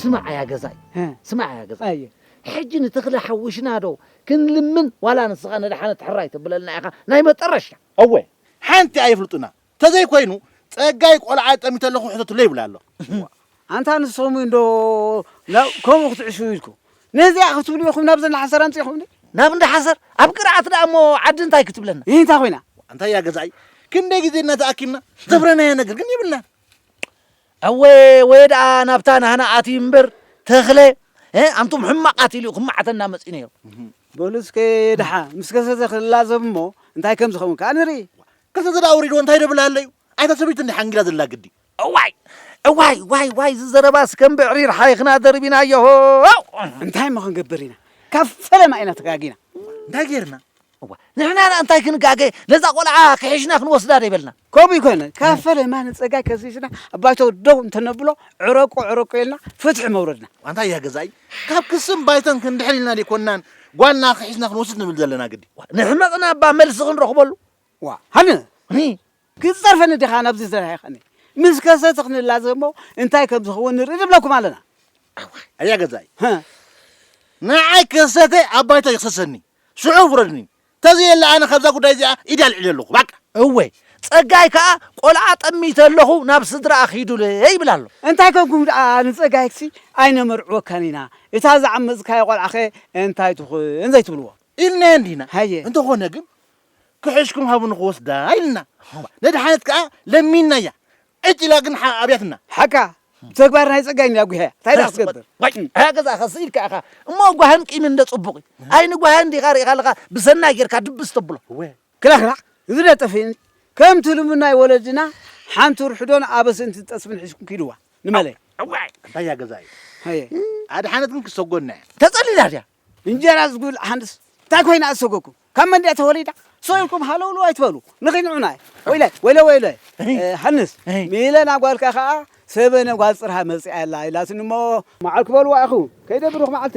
ስማዕ እያ ገዛይ ስማዕ እያ ገዛይ ሕጂ ንተኽለ ሓዊሽና ዶ ክንልምን ዋላ ንስኻ ነድሓነት ሕራይ ተብለልና ኢኻ ናይ መጠረሻ እወ ሓንቲ ኣየፍልጡና ተዘይ ኮይኑ ጸጋይ ቆልዓ ጠሚተ ኣለኹ ሕተትለይ ይብላ ኣሎ ኣንታ ንስኹም እንዶ ከምኡ ክትዕሹ ኢልኩ ነዚኣ ክትብሉ ኢኹም ናብ ዘና ሓሰር ኣምፂኹምኒ ናብ እንዳ ሓሰር ኣብ ቅርዓት ደኣ እሞ ዓዲ እንታይ ክትብለና ይህ እንታይ ኮይና እንታይ እያ ገዛኢ ክንደይ ግዜ እና ተኣኪብና ዘፍረናዮ ነገር ግን ይብልናን እወ ወይ ደኣ ናብታ ናህና ኣትዩ እምበር ተኽለ ኣንቱም ሕማቃት ኢሉ ክማዓተና መፂ ነይሩ በሉ እስከ ደሓ ምስ ከሰተ ክላዘብ እሞ እንታይ ከም ዝኸውን ከዓ ንርኢ ክልተ ዘዳ ኣውሪድዎ እንታይ ደብል ኣለዩ ኣይታ ሰበይቲ እንዲ ሓንጊዳ ዘላ ግዲ እዋይ እዋይ ዋይ ዋይ ዝዘረባስ ከም ብዕሪር ሓይኽና ደርቢናዮ እንታይ እሞ ክንገብር ኢና ካብ ፈለማ ኢና ተጋጊና እንታይ ጌርና እዋ ንሕና ና እንታይ ክንጋገ ነዛ ቆልዓ ክሒሽና ክንወስዳ ደይበልና ከምኡ ይኮነ ካብ ፈለማ ንፀጋይ ከሲስና ኣባይቶ ደው እንተነብሎ ዕረቁ ዕረቁ ኢልና ፍትሒ መውረድና እንታይ እያ ገዛይ ካብ ክስም ባይቶን ክንድሕር ኢልና ዘይኮናን ጓልና ክሒስና ክንወስድ ንብል ዘለና ግዲ ንሕመቕና እባ መልሲ ክንረኽበሉ ዋእ ሃኒ ሪ ክትጸርፈኒ ዲኻ ናብዚ ዝረሓይካኒ ምስ ከሰተ ክንላዘብ እሞ እንታይ ከም ዝኸውን ንርኢ ንብለኩም ኣለና ኣዋይ ኣያ ገዛይ ሀ ንዓይ ከሰተ ኣብ ባይታ ይኽሰሰኒ ሽዑ ፍረድኒ ተዘየለ ኣነ ካብዛ ጉዳይ እዚኣ ኢድ ኣልዒለ ኣለኹ ባቃ እወ ጸጋይ ከኣ ቆልዓ ጠሚተ ኣለኹ ናብ ስድራኣ ኺዱለይ ይብል ኣሎ እንታይ ከንኩም ደኣ ንጸጋይክሲ ኣይነመርዕወካን ኢና እታ ዝዓመጽካዮ ቆልዓኸ እንታይ ትኹን ዘይትብልዎ ኢልናዮ እንዲና ሃየ እንተኾነ ግን ክሕሽኩም ሃቡ ንክወስዳ ኢልና ነድሓነት ከኣ ለሚንናያ ዕጭ ኢላ ግን ኣብያትና ሓቃ ብተግባር ናይ ጸጋይ እንድያ ጉሄያ እንታይ ደኣ ክትገብር ኣያ ገዛእኻ ስኢልካ ኢኻ እሞ ጓህን ቂምን እንደ ጽቡቕ እዩ ኣይ ንጓህን ዲኻ ርኢኻ ኣለኻ ብሰናይ ጌርካ ድብስ ተብሎ ክላክላዕ እዚ ደጠፍእኒ ከምቲ ልሙድ ናይ ወለድና ሓንቲ ርሕዶን ኣበስን ትጠስብን ሒዝኩም ኪድዋ ንመለይ ኣዋይ ኣያ ገዛእይ ኣድሓነት ግን ክሰጎና እያ ተጸሊላ ድያ እንጀራ ዝጉል ሓንስ እንታይ ኮይና እሰገኩም ካብ መን ድያ ተወሊዳ ሰኢልኩም ሃለውሉ ኣይትበሉ ንኺንዑና ወይለ ወይለ ወይለ ሃንስ ሚለና ጓልካ ከዓ ሰበነ ጓል ፅርሃ መፅኣ ኣላ ኢላትኒ እሞ መዓል ክበልዋ ኢኹ ከይደ ብሩኽ መዓልቲ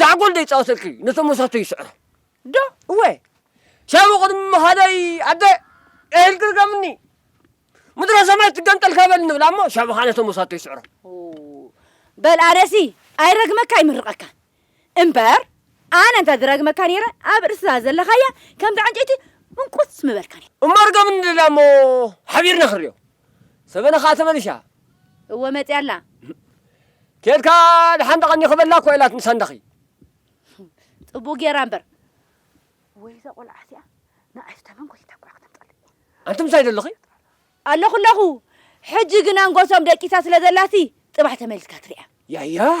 ዛዕጎል ዶ ይጻወተልኪ ነቶም ወሰኽቱ ይስዕሮ ዶ እወ ሻቡ ቅድሚ ምኻደይ ኣደ ኤህል ግርገምኒ ምድረ ሰማይ ትገንጠል ከበል ንብላ እሞ ሻቡ ኸኣ ነቶም ወሰኽቱ ይስዕሮ በል ኣነሲ ኣይረግመካ ኣይምርቐካ እምበር ኣነ እንተ ዝረግመካ ነይረ ኣብ ርእስታ ዘለኻያ ከምቲ ዕንጨይቲ እንቁስ ምበልካ እሞ ርገምኒ ንብላ እሞ ሓቢርና ክንሪኦ ሰበነ ኸኣ ተመሊሻ። እወ መጺኣ ኣላ። ኬድካ ደሓን ደቐኒ ክበላ እኳ ኢላትኒ ሳንዳኺ። ጽቡቕ ጌራ እምበር። ወይ'ዛ ቈልዓ እዚኣ ንኣሽቱ ተመን ጐቲታ እኳ ከተምጽኣለይ። ኣንቲ ምሳይ ዶ ኣለኺ? ኣለኹ ኣለኹ። ሕጂ ግን ኣንጎሶም ደቂሳ ስለ ዘላሲ ጽባሕ ተመሊስካ ትርኣ። ያያዕ!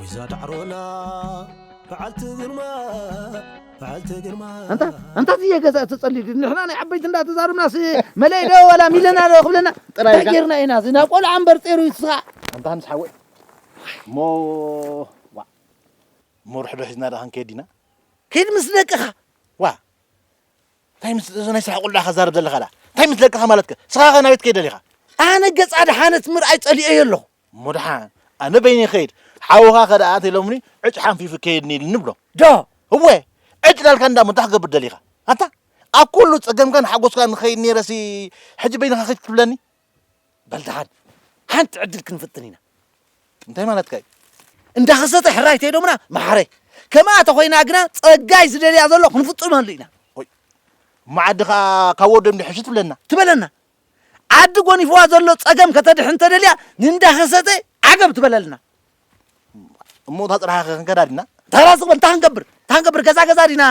ወይዛ ዳዕሮና በዓልቲ ግርማ ኣንታ ኣንታ እዚ ገዛ ተጸልዩ ግን ንሕና ናይ ዓበይቲ እንዳተዛረብናስ መለይ ዶ ወላ ሚለና ዶ ክብለና ጥራይ ጌርና ኢና እዚ ናብ ቆልዓ እምበር ጤሩ ይስኻ ኣንታ ምስ ሓወይ እሞ ዋ እሞ ርሕዶ ሒዝና ዶ ክንከይድ ኢና ከይድ ምስ ደቅኻ ዋ እንታይ ምስ እዚ ናይ ስራሕ ቆልዓ ከዛርብ ዘለኻ ዳ እንታይ ምስ ደቅኻ ማለትከ ስኻ ከ ናበይ ትከይድ ደሊኻ ኣነ ገጻ ድሓነት ምርኣይ ጸሊኦዮ ኣለኹ እሞ ደሓን ኣነ በይነይ ክኸይድ ሓውኻ ከደኣ ኣተይ ሎምኒ ዕጭ ሓንፊፉ ከየድኒ ኢልኒ ብሎ። ዶ እወ ዕጭ ላልካ እንዳሞ እንታይ ክገብር ደሊኻ ኣንታ ኣብ ኩሉ ጸገምካን ሓጎስካን ንኸይድ ነይረሲ ሕጂ በይንኻ ከይድ ክትብለኒ በል ደሓን ሓንቲ ዕድል ክንፍትን ኢና እንታይ ማለትካ እዩ እንዳኸሰተ ሕራይ ተይዶምና መሓረይ ከምኣ ተኾይና ግና ጸጋይ ዝደልያ ዘሎ ክንፍጽመሉ ኢና ወይ እሞ ዓዲ ኸኣ ካብ ወዶም ድሕሽ ትብለና ትበለና ዓዲ ጎኒፍዋ ዘሎ ጸገም ከተድሕን ተደልያ ንእንዳኸሰተ ዓገብ ትበለልና። እሞ እታ ጽርሓ ክንከዳ ዲና? ተራስ ዝበል እንታይ ክንገብር እንታይ ክንገብር ገዛ ገዛ ዲና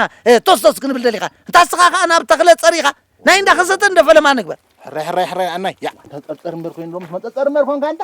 ቶስ ቶስ ክንብል ደሊኻ እንታ ስኻ ከኣ ናብ ተኽለ ጸሪኻ ናይ እንዳኸሰተ እንደፈለማ ንግበር ሕራይ ሕራይ ሕራይ ኣናይ ያ ተንጠርጠር እምበር ኮይኑሎ ምስ መንጠርጠር እምበር ኮንካ እንታ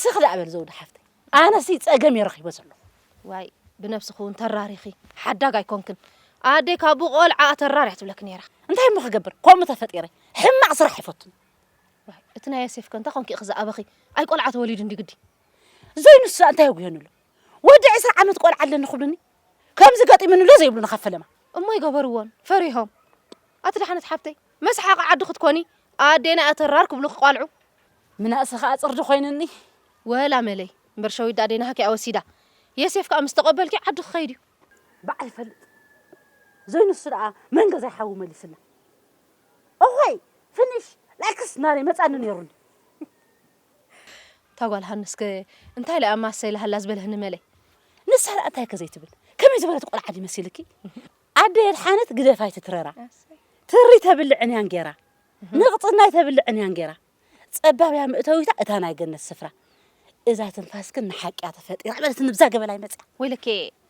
ስኽ ደኣ በል ዘውዲ ሓፍተይ ኣነሲ ጸገም እየ ረኺቦ ዘለኹ ዋይ ብነብስኺ እውን ተራሪኺ ሓዳግ ኣይኮንክን ኣደይ ካብ ብቆልዓኣ ተራርያ ትብለኪ ነይራ እንታይ እሞ ክገብር ከምኡ ተፈጢረ ሕማቕ ስራሕ ኣይፈቱን እቲ ናይ ዮሴፍ ከ እንታይ ኮንኪ ኢኺ ዝኣበኺ ኣይ ቆልዓ ተወሊዱ እንዲ ግዲ ዘይንሱ እንታይ ጉየንሉ ወዲ ዕስራ ዓመት ቆልዓ ኣለኒ ክብሉኒ ከምዚ ገጢሙኒ ዶ ዘይብሉኒ ካብ ፈለማ እሞ ኣይገበርዎን ፈሪሆም ኣቲ ደሓነት ሓብተይ መስሓቂ ዓዲ ክትኮኒ ኣዴና ኣተራር ክብሉ ክቋልዑ ምናእሰ ከኣ ጽርዲ ኮይንኒ ወላ መለይ እምበር ሸዊት ደኣ ኣዴና ሃኪያ ወሲዳ የሴፍ ከኣ ምስ ተቐበልኪ ዓዲ ክኸይድ እዩ ባዕ ይፈልጥ ዘይንሱ ደኣ መን ገዛይ ሓዊ መሊስና እኾይ ፍኒሽ ላይክስ ናረይ መጻኒ ነይሩኒ እታ ጓል ሃንስከ እንታይ ኢላ እያ ማሰይ ኢላሃላ ዝበልህኒ መለይ ንሳ ደኣ እንታይ ከ ዘይትብል ከመይ ዝበለት ቆልዓ ድዩ መሲልኪ ኣደ የድሓነት ግደፍ ኣይትትረራ ትሪ ተብልዕን እያን ጌራ ንቕፅናይ ተብልዕን እያን ጌራ ፀባብ እያ ምእተዊታ እታ ናይ ገነት ስፍራ እዛ ትንፋስክን ንሓቂያ ተፈጢራ በለት ንብዛ ገበላይ መፅያ ወይለኬ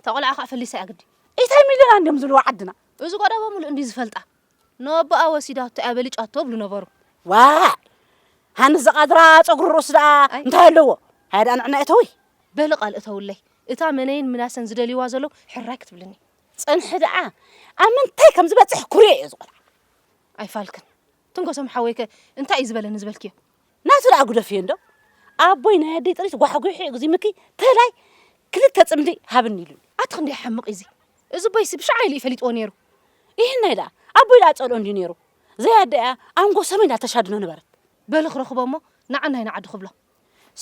ተቆልዓ ከዓ ፈሊሳ እያ ግዲ ኢታይ ሚለና እንዲዮም ዝብልዎ ዓድና እዚ ቆደቦ ሙሉእ እንዲ ዝፈልጣ ንኣቦኣ ወሲዳቶ እያ በሊጫቶ ይብሉ ነበሩ። ዋእ ሃንስ ዝቓድራ ጸጉሪ ርእሱ ደኣ እንታይ ኣለዎ? ሃየ ደኣ ንዕና እተዊ። በሊ ቃል እተውለይ፣ እታ መነይን ምናሰን ዝደልይዋ ዘለዉ ሕራይ ክትብልኒ። ጽንሒ ደኣ ኣብ ምንታይ ከም ዝበጽሕ ኩርዮ እየ ዝቖልዓ። ኣይፋልክን ትንከሶም ሓወይከ እንታይ እዩ ዝበለኒ ዝበልክዮ? ናቱ ደኣ ግደፍዮ እንዶ ኣቦይ ናይ ኣደይ ጥሪት ጓሕጒሑ ኣግዚሙኪ ተላይ ክልተ ጽምዲ ሃብኒ ኢሉኒ። ኣቲ ክንደይ ሓምቕ እዩ እዚ እዚ ቦይሲ ብሻዓ ኢሉ እዩ ፈሊጥዎ ነይሩ ይህናይ ደኣ ኣቦይ ደኣ ጸልኦ እንድዩ ነይሩ ዘይ ኣደይ እያ ኣንጎ ሰመይ እንዳ ተሻድኖ ነበረት። በሉ ክረኽቦ እሞ ንዓናይ ንዓዱ ክብሎ።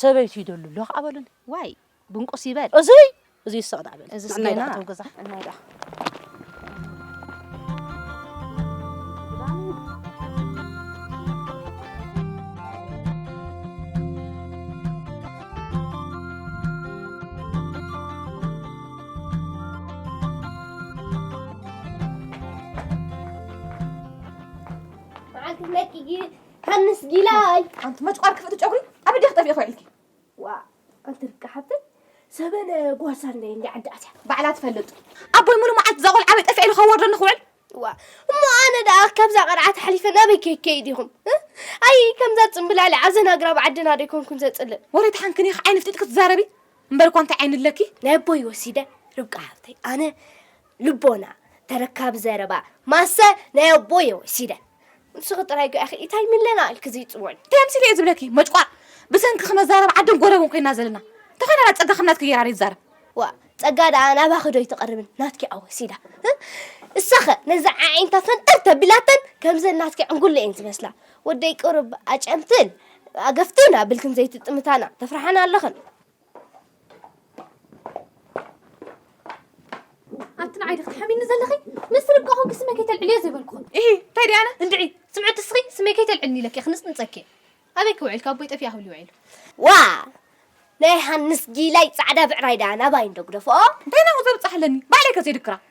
ሰበይቱ ይደሉ ኣሎ ከኣ በሉኒ ዋይ። ብንቁስ ይበል እዙይ እዙይ ሰቕ ዳዕ በል እዚ ናይ ዳዕተው ገዛ ናይ ዳዕ መዓልቲ መኪጊ ሃንስ ጊላይ ኣንቲ መጭቋር ክፍእቲ ጨጉሪ ኣብ ደኽ ጠፊእ ኸዒልኪ ዋእ ኣንቲ ርቂ ሓብተይ ሰበነ ጓሳ እንደ እንደ ዓዲ ኣትያ ባዕላ ትፈልጥ ኣቦይ ሙሉ መዓልቲ እዛ ቆልዓ በይ ጠፊዐ ኢሉ ከዋርደኒ ክውዕል ዋ እሞ ኣነ ደኣ ካብዛ ቀርዓት ሓሊፈ ናበይ ከይከይድ ኢኹም ኣይ ከምዛ ፅምብላሊ ዓዘን ኣግራብ ዓድና ዶ ይኮንኩን ዘፅልእ ወረ ተሓንክን ኢኺ ዓይኒ ፍጢጥ ክትዛረቢ እምበር እኳ እንታይ ዓይኒ ኣለኪ ናይ ኣቦይ ወሲደ ርብቃ ሓብተይ ኣነ ልቦና ተረካቢ ዘረባ ማሰ ናይ ኣቦየ ወሲደ ንስኺ ጥራይ ጓ ኢኺ ኢታይ ሚለና ኢልኪ ዝይጽወኒ እንታይ ኣምሲለ እየ ዝብለኪ መጭቋር ብሰንኪ ክነዛረብ ዓድን ጎረብን ኮይና ዘለና ተኾይናና ጸጋ ከም ናትኪ ገይራ ይዛረብ ዋ ጸጋ ደኣ ናባኺ ዶ ይትቐርብን ናትኪ ኣወሲዳ እሳኸ ነዚ ዓዒንታ ፈንጠር ተቢላተን ከምዘን ናትኪ ዕንጉለ እየን ዝመስላ ወደይ ቅሩብ ኣጨምትን ኣገፍትን ኣብልክን ዘይትጥምታና ተፍርሓና ኣለኽን ኣቲ ንዓይ ድኽ ትሓሚኒ ዘለኺ ምስ ርብቃ ኮንኪ ስመይ ከይተልዕልዮ ዘይበልኩኹም ኢ እንታይ ዲኣነ እንድዒ ስምዒ ትስኺ ስመይ ከይተልዕልኒ ኢለኪ ክንፅንፀኪ ኣበይ ክውዕል ካብ ቦይ ጠፊኣ ክብል ይውዒሉ ዋ ናይ ሃንስ ጊላይ ፃዕዳ ብዕራይ ዳኣ ናባይ እንዶ ግደፍኦ እንታይ ናብኡ ዘብፅሓለኒ ባዕለይ ከ ዘይድክራ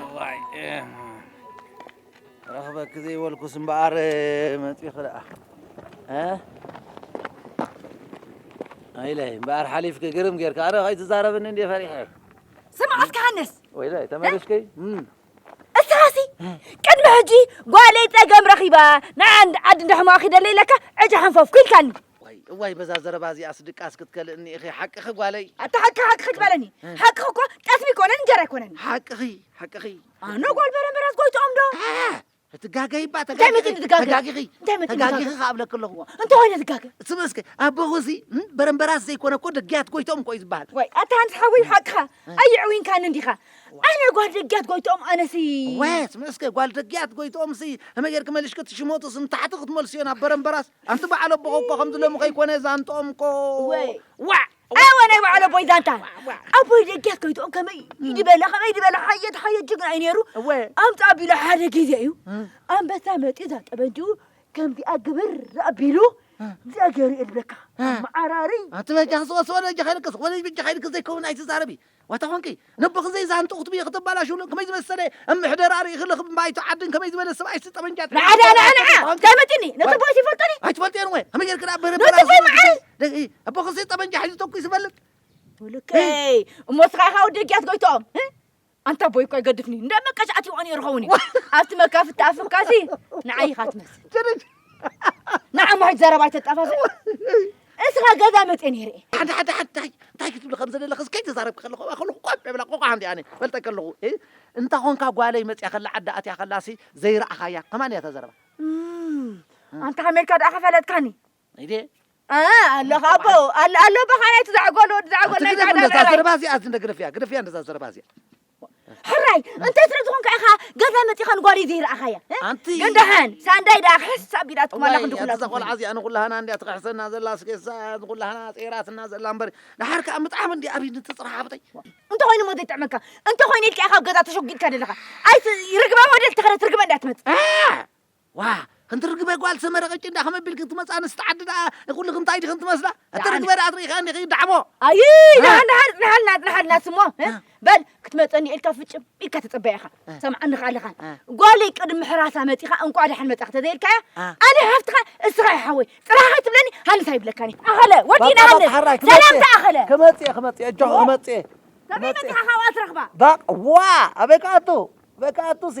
እዋይ ክረኽበኪ ዘይበልኩስ እምበኣር መጺኺ ደኣ እ ወይለይ እምበኣር ሓሊፍኪ ግርም ጌርካ ኣረ ከይትዛረብኒ እንድየ ፈሪሐ ስምዓት ክሃንስ ወይለይ ተመሊስኪ እም፣ እስኻሲ ቅድሚ ሕጂ ጓለይ ጸገም ረኺባ ንዓንድ ዓዲ እንዳሕማቕ ኺደለይ ኢለካ ዕጫ ሓንፈፍኩ ኢልካኒ እዋይ እዋይ በዛ ዘረባ እዚኣስ ድቃስ ክትከልእኒ ኢኺ ሓቅኺ ጓለይ ኣታ ሓቂ ሓቂ ክትበለኒ ሓቅኺ እኮ ጠስሚ ኣይኮነን እንጀራ ኣይኮነን ሓቅኺ ሓቅኺ ኣነ ጓል በረመራስ ጎይትኦም ዶ ትጋገይ እባ ተጋጊኺ ተጋጊኺ ተጋጊኺ ከዓ እብለኪ ኣለኹ እንተኾይነ ትጋገ ስም እስከ ኣቦኹ እዚ በረምበራስ ዘይኮነ እኮ ደግያት ጎይትኦም እኮ እዩ ዝበሃል ወይ ኣታ ሃንስ ሓወይ ሓቅኻ ኣይዕውንካኒ እንዲኻ ኣነ ጓል ደግያት ጎይትኦም ኣነሲ ወ ስም እስከ ጓል ደግያት ጎይትኦም ሲ ከመይ ጌርኪ መልሽኪ ትሽሞቱ ስም ታሕቲ ክትመልስዮ ናብ በረምበራስ ኣንቲ በዓል ኣቦ እኮ ከምዚ ሎሚ ከይኮነ ዛንትኦም እኮ ዋዕ ኣወ ናይ በዓል ኣቦይ ዛንታ ኣቦይ ደጊያ ከይትኦም ከመይ ይድበላ ከመይ ይድበላ ሓየት ሓየት ጅግና እዩ ነይሩ ኣምፅ ኣቢሉ ሓደ ግዜ እዩ ኣንበሳ መፅኡ እዛ ጠበንጅኡ ከምዚኣ ግብር ኣቢሉ ዘገሪ እልበካ መዓራሪ ኣቲ በጃ ዝወስወለ እጃ ከይልክስ ወለጅ ብጃ ከይልክስ ዘይከውን ኣይትዛረቢ ዋታ ኮንኪ ነቦኺ ዘይዛንቱ ክትብዪ ከተባላሽውሉ ከመይ ዝመሰለ ምሕደራ ርኢኺ ልኽብ ባይቶ ዓድን ከመይ ዝበለ ሰብኣይሲ ጠበንጃ ንዓ ንዓ ንዓ ንዓ እንታይ መጺኒ ነቲ ኣቦይ ይፈልጦኒ ኣይትፈልጥዮን ወ ከመይ ጌርኪ ደኣ በረ ነቲ ኣቦይ መዓረይ ኣቦኽሲ ጠበንጃ ሒዙ ተኩ ይስፈልጥ ብልከይ እሞ ስኻ ኢኻ ወዲ ህግያት ጎይትኦም ኣንታ ኣቦይ እኳ ይገድፍኒ እንዳ መቀጫዕቲ ይኾን ይርኸውን እዩ ኣብቲ መካፍቲ ኣፍካሲ ንዓይ ኢኻ ትመስል ንዓ ምሕት ዘረባ ኣይተጣፋፍእ እስኻ ገዛ መፅኤ ነይረ እየ ሓደ ሓደ ሓደ እንታይ እንታይ ክትብሊ ከም ዘለለኽስ ከይተዛረብኪ ከለኹ ኣብኣ ከለኹ ቆዕ ብላ ቆቋ ሓንቲ ኣነ ፈልጠ ከለኹ እንታ ኾንካ ጓለይ መፅያ ከላ ዓዳ ኣትያ ከላሲ ዘይረኣኻያ ከማን እያ ተዘረባ ኣንታ ኣሜሪካ ደኣ ከፈለጥካኒ ኢደ ኣለኻ ኣቦ ኣሎ ኣሎ በኻ ናይቲ ዘዕጎል ወዲ ዘዕጎል ናይ ዛዕዳ እዛ ዘረባ እዚኣ እንደ ግደፍያ ግደፍያ እንደዛ ዘረባ እዚኣ ሕራይ እንተ ስለ ዝኾንካ ኢኻ ገዛ መፂኻ ንጓሪ ዘይረኣኻያ ግን ደሓን ሳንዳይ ደኣ ክሕስ ኣቢላትኩም ኣላ ክንዲ ኩላ ቆልዓ እዚኣ ንኩላህና እንዲያ ትኽሕሰና ዘላ ስኬሳ ንኩላህና ፀይራትና ዘላ እምበር ደሓር ከዓ ምጥዓም እንዲ ኣብይ ንትፅራሕ ኣብጠይ እንተኮይኑ ሞ ዘይጥዕመካ እንተኮይኑ ኢልካ ኢኻ ኣብ ገዛ ተሸጒጥካ ዘለኻ ኣይ ርግባ ወደል ተኸረት ርግበ እንዳትመፅእ ዋእ ክንቲ ርግበ ጓል ሰመረ ቅጭን ድኣ ከመይ ቢልኪ ትመጽ ኣንስቲ ዓዲ ድኣ ንኩልኪ እንታይ ዲክን ትመስላ እቲ ርግበ ድኣ ትሪኢኺ እንዲኺ ዳዕሞ ኣይ ድሓን ድሓን ድሓልና ድሓልና ስሞ በል ክትመጸኒ ኢልካ ፍጭም ኢልካ ተጸበያ ኢኻ ሰምዓኒ ኸኣ ኣለኻ ጓለይ ቅድሚ ሕራሳ መጺኻ እንቋዕ ድሓን መጻኺ ተዘይልካያ ኣነ ሓፍትኻ እስኻ ኢኻ ሓወይ ጥራሕ ከይትብለኒ ሃንስ ኣይብለካኒ ኣኸለ ወዲና ሃንስ ሰላም ድኣ ኣኸለ ክመጽእ ክመጽእ እጆ ክመጽእ ከመይ መጺኻ ካብኣ ትረኽባ ባቕ ዋ ኣበይ ክኣቱ ኣበይ ክኣቱሲ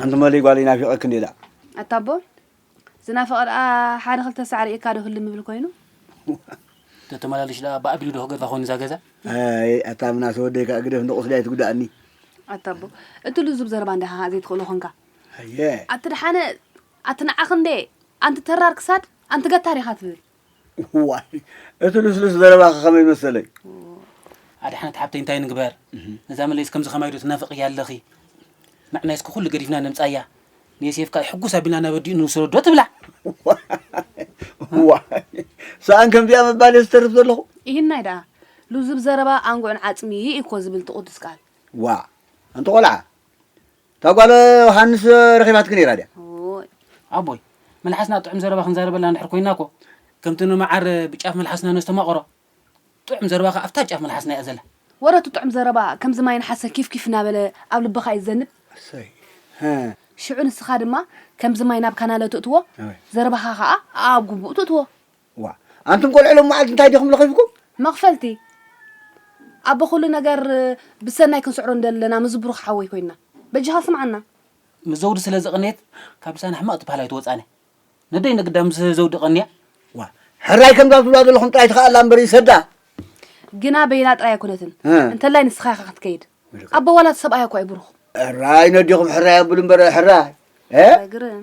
ሓንቲ መሊ ጓለይ ናፊቀኪ እንዲየ ዳኣ። ኣታ ኣቦ ዝናፈቀ ደኣ ሓደ ክልተ ሳዕ ሪኤካ ዶ ህልም ይብል ኮይኑ። ተተመላልሽ ደኣ ብ ኣግሊ ዶ ክገድፋ ኮይኑ እዛ ገዛ። ኣይ ኣታ ምናሰ ወደይ ካኣ ግደፍ እንዶ ቁስሊ ኣይትጉዳኣኒ። ኣታ ኣቦ እቲ ልዙብ ዘረባ እንዲኻ ካኣ ዘይትኽእሎ ኮንካ። ኣየ። ኣቲ ደሓነ ኣቲ ንዓኺ እንዴ ኣንቲ ተራር ክሳድ ኣንቲ ገታር ኢኻ ትብል። ዋይ እቲ ልስሉስ ዘረባኺ ከመይ መሰለይ ኣድሓነት ሓብተይ እንታይ ንግበር ነዛ መለይስ ከምዚ ከማይ ዶ ትናፍቕያ ኣለኺ ንዕና እስኪ ኩሉ ገዲፍና ነምጻያ ንየሴፍ ከኣ ሕጉስ ኣቢልና ናብ ኣዲኡ ንውሰዶ ዶ ትብላ ዋይ ሰኣን ከምዚኣ ምባል እየ ዝተርፍ ዘለኹ ኢሂናይ ደኣ ልዙብ ዘረባ ኣንጉዕን ዓጽሚ እዩ እኮ ዝብል እቲ ቅዱስ ቃል ዋ ኣንቲ ቆልዓ እታ ጓል ዮሃንስ ረኺባትኪ ነይራ ድያ? እዎይ ኣቦይ መልሓስና ጥዑም ዘረባ ክንዛረበላ እንድሕር ኮይና እኮ ከምቲ ንመዓር ብጫፍ መልሓስና ነስተማቕሮ ጥዑም ዘረባ ከኣ ኣብታ ጫፍ መልሓስና እያ ዘላ። ወረ እቲ ጥዑም ዘረባ ከምዚ ማይ ነሓሰ ኪፍ ኪፍ እናበለ ኣብ ልብኻ እዩ ዝዘንብ። ኣሰይ ሀ ሽዑ ንስኻ ድማ ከምዚ ማይ ናብ ካናለ ትእትዎ፣ ኣበይ ዘረባኻ ከኣ ኣኣብ ጉቡእ ትእትዎ። ዋእ ኣንቱም ቆልዑ ሎም መዓልቲ እንታይ ዲኹም ለኺፍኩም? መኽፈልቲ ኣቦ ኩሉ ነገር ብሰናይ ክንስዕሮ እንደለና ምዝ ብሩኽ ሓወይ ኮይንና በጃኻ ስምዓና። ምስ ዘውዲ ስለ ዝቐነየት ካብ ልሳና ሕማቕ ትበሃል ኣይትወጻነ ነደይ ንግዳ ምስ ዘውዲ ቀንያ። ዋእ ሕራይ ከምዛ ትብላ ዘለኹም ጥራይ ትኸኣላ እምበር ይሰዳ። ግና በይና ጥራይ ኣይኮነትን እ። እንተላይ ንስኻ ኢኻ ክትከይድ ኣቦ ዋላ እቲ ሰብኣያ እኳ እዩ ብሩኽ። ሕራይ ነዲኹም ሕራይ ኣብሉ እምበር ሕራይ እ። ሕራይ ግርም።